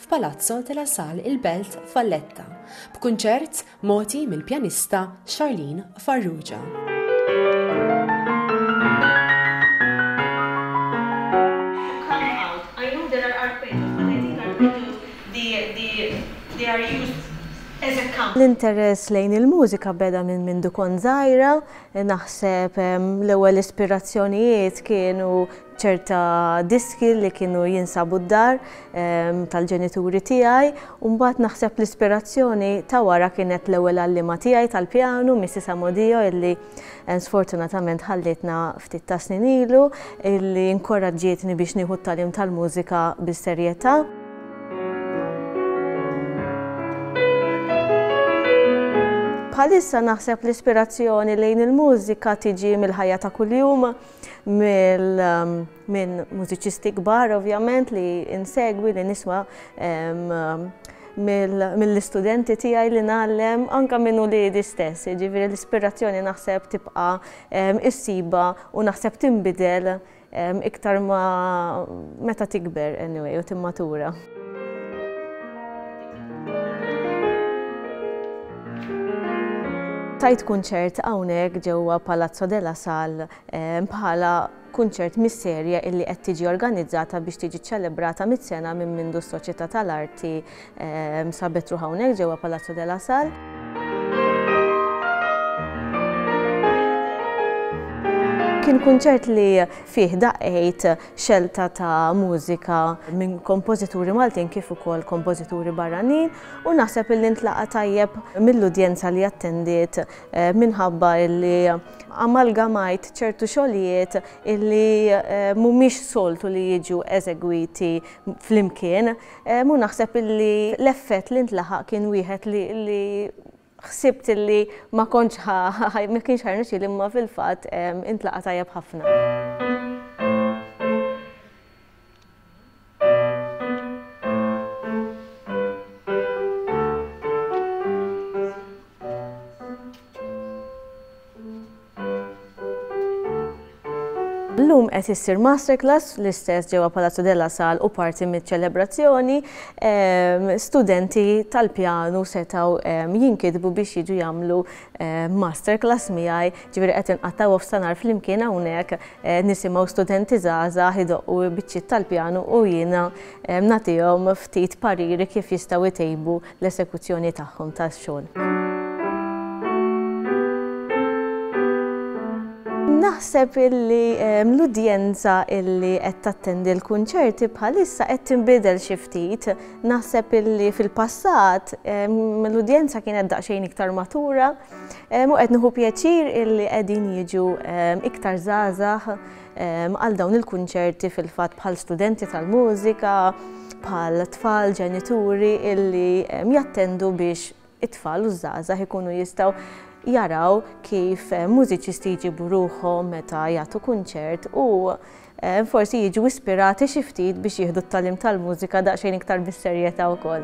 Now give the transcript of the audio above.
f'Palazzo de la Sal il-Belt Valletta, b'kunċert mogħti mill-pjanista Charlene Farrugia. L-interess lejn il-mużika beda minn mindu kont żgħira, naħseb l-ewwel ispirazzjonijiet kienu ċerta diski li kienu jinsabu d-dar tal-ġenituri tiegħi u mbagħad naħseb l-ispirazzjoni ta' wara kienet l-ewwel għalliema tiegħi tal-pjanu, Mrs. Amodio, illi sfortunatament ħallietna ftit ta' snin ilu, illi inkoraġġietni biex nieħu t-tagħlim tal-mużika bis-serjetà. Bħalissa naħseb l-ispirazzjoni lejn il-mużika tiġi mill-ħajja ta' kuljum, minn mużiċisti kbar ovvjament li insegwi li nisma mill-istudenti tiegħi li ngħallem anke minn uliedi stess, jiġifieri l-ispirazzjoni naħseb tibqa' issibha u naħseb tinbidel iktar ma meta tikber anyway u timmatura. Tajt kunċert hawnhekk ġewwa Palazzo della Sal eh, bħala kunċert mis-serje illi qed tiġi organizzata biex tiġi ċċelebrata mit-sena minn mindu s-Soċjetà tal-Arti eh, sabet ruħ hawnhekk ġewwa Palazzo della Sal. Kien kunċert li fih daqgħid xelta ta' mużika minn kompożituri Maltin kif ukoll kompożituri barranin u naħseb illi ntlaqa' tajjeb mill-udjenza li attendiet minħabba illi amalgamajt ċertu xogħlijiet illi mhumiex soltu li jiġu eżegwiti flimkien u naħseb illi l-effett li ntlaħaq kien wieħed li ħsibt li ma kontx ħa ma kienx ħa jirnexxieli imma fil-fatt intlaqa' tajjeb ħafna. Illum qed issir masterclass l-istess ġewwa Palazzo della Sal u parti miċ-ċelebrazzjoni. Ehm, studenti tal-pjanu setgħu ehm, jinkitbu biex jiġu jagħmlu ehm, masterclass miegħi, ġifieri qed inqattgħu f'sanar flimkien hawnhekk eh, nisimgħu studenti żgħażagħ idoqqu biċċiet tal-pjanu u jiena nagħtihom ftit pariri kif jistgħu jtejbu l-esekuzzjoni tagħhom tax-xogħol. Naħseb illi ehm, l-udjenza illi qed tattendi l-kunċerti bħalissa qed tinbidel xi ftit. Naħseb illi fil-passat ehm, l-udjenza kienet daqsxejn iktar matura ehm, u qed nieħu pjaċir illi qegħdin jiġu iktar żgħażagħ għal dawn il-kunċerti fil-fatt bħal studenti tal-mużika, bħal tfal, ġenituri illi jattendu biex it-tfal u żgħażagħ ikunu jistgħu jaraw kif eh, mużiċisti jġibu ruħhom meta jagħtu kunċert u eh, forsi jiġu ispirati xi ftit biex jieħdu t-talim tal-mużika daqsxejn iktar bis-serjetà wkoll.